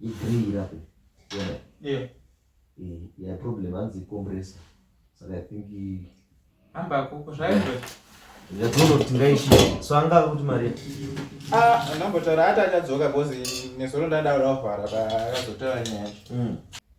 igree irape yona yeah. Eh, yeah, problem hanzi icompressa saka i think amba kuko zvaizvo yadzono kuti ngaishi so anga kuti mari ah ndambotaura ati achadzoka bcause nezuro ndadaura kuvhara paakazotaura nyaya yacho hmm.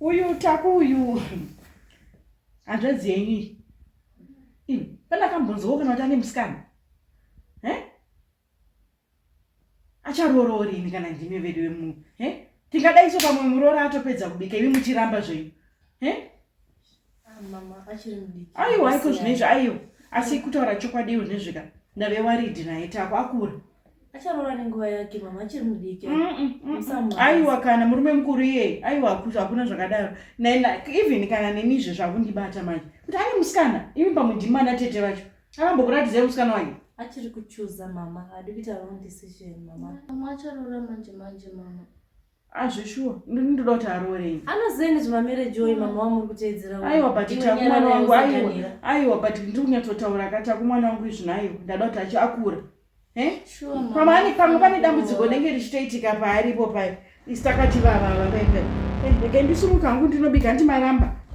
uyu taku uyu hanzvadzi yenyu iyi pane akambonzwawo kana kuti ane musikana acharoorori ini kana ndimi vedu vemunhu tingadaiso pamwe muroora atopedza kubika imi muchiramba zvenyu aiwa aiko zvine izvi aiwa asi mm. kutaura chokwadi iwo zvine zvika ndave waridi naye tako akura acharoora nenguva yake mama achiri mudiki mm, mm, aiwa kana murume mukuru iye aiwa hakuna zvakadaro even kana nemizve zvakundibata manje kuti ane musikana imi pamwe ndimana tete vacho akambokuratidzai musikana wake achiri kuchuza mama adi kuita wrong decision mama mama acharoora manje manje mama Azve shuwa ndoda kuti aroorei. Anoziva nezvemamarriage iwoyo mm. mama wamuri kuteedzera. Aiwa but takumwana wangu aiwa. Aiwa but ndiri kunyatsotaura ka takumwana wangu izvino aiwa ndada kuti achi akura. Eh? Sure. Mama ani pamwe pane dambudziko rinenge richitoitika paaripo paye. Isi takati vava vava paipai. Eh, regai ndisumuka hangu ndinobika handimaramba.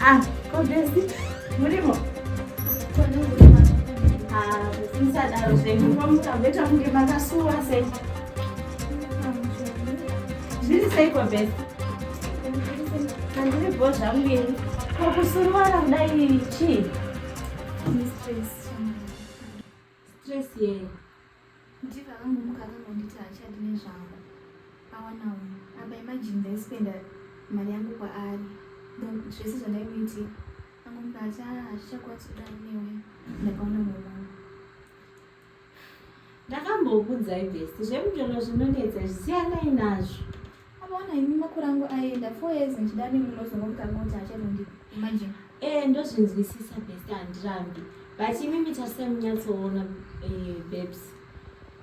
Ah, kodesi murimo musadaro zvenyu pamuka beta kunge makasuwa sei zviri seiko beta handiri bho zvangu ini kokusuruwara kudai chii stress yei kuti vakangomuka akangonditi hachadi nezvangu awanawo apa imagine ndaispenda mari yangu kwaari zvese zvandaimuiti angomuka ati a hazvichakwanisi kudai newe ndakaona mumama ndakambokudzai best zvemutoro zvinonetsa zvisiyanai nazvo Akaona imi makore angu aenda four years ndichida nemi unozongo mutanga kuti achatondi imagine. Eh ndozvinzwisisa best handirambi but imimi tarisai munyatsoona eh, babes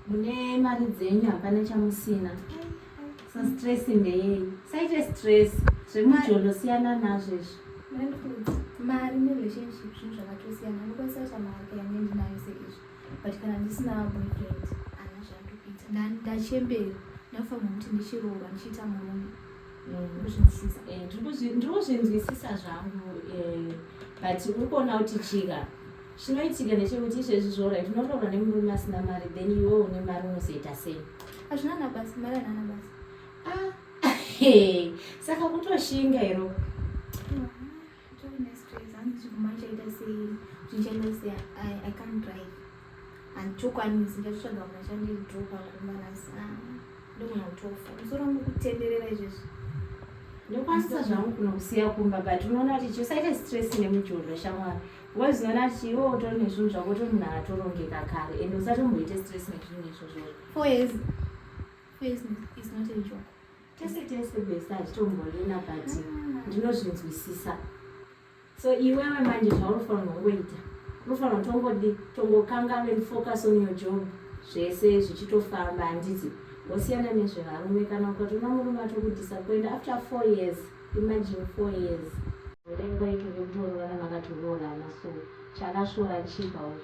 mune mari dzenyu hapana chamusina so stress ndeyei saite stress zvemujolo siyana nazvo izvo mari nerelationship zvinhu zvakatosiyana unokwanisa kuti amawake yanendinayo seizvo but kana ndisina boyfriend ana zvandokuita ndachembera ndafanira kuti ndichiroora ndichiita murume ndirikuzvinzwisisa eh, zvangu eh, but uri kuona kuti chika chinoitika ndechekuti izvezvi zvorai tinoroora nemurume asina mari then iwe une mari unozoita sei hazvina nabasa mari anana basa ah, saka kutoshinga iro mm. ndokwanisa zvangu kuno kusiya kumba but unoona kuti chiusaite stress nemujolo shamwari ngo zinoona kuti iwe utori nezvinhu zvako utori munhu atorongeka kare and usatomboite stress nezvinhu izvozvo four years four years is not a joke tese tese best hazvitomborina but mm. ndinozvinzwisisa so iwewe manje zvaunofanirwa kungoita unofanirwa kutongodi tongokanganwe focus on your job zvese zvichitofamba handiti wosiyana nezvevarume kana ukatoona murume atokudisappoint after four years imagine four years rengo itoke kutoroorana makatoroorana so chakashora chipa uyo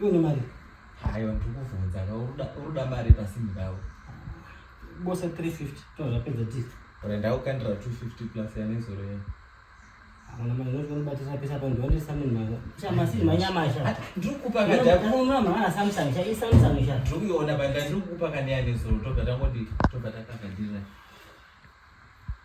Iwe une mari? Hayo ndikuvhunza ka uruda mari pasini pawo. Bosa 350 tozvapedza tisu. Renda ukandira 250 plus yanezoro yeye. Mwana mwana noti kunobatisa pesa pa ndione Samsung mwana. Chama si manyama sha. Ndiri kukupa ka data. Mwana mwana mwana Samsung sha, i Samsung sha. Ndiri kuiona banda ndiri kukupa ka ndiyane zoro tobva tangoti tobva takakadira.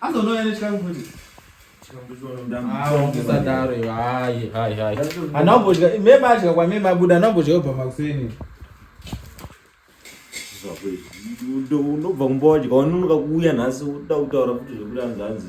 Azonouya nechikangu futi. Usadaro iwe hayi hayi hayi. Anobodya mema adya kwamema abuda anobodya obva makuseni. Unobva kumba wadya wanonoka kuuya nhasi uda kutaura kuti zvekuti anzanzi.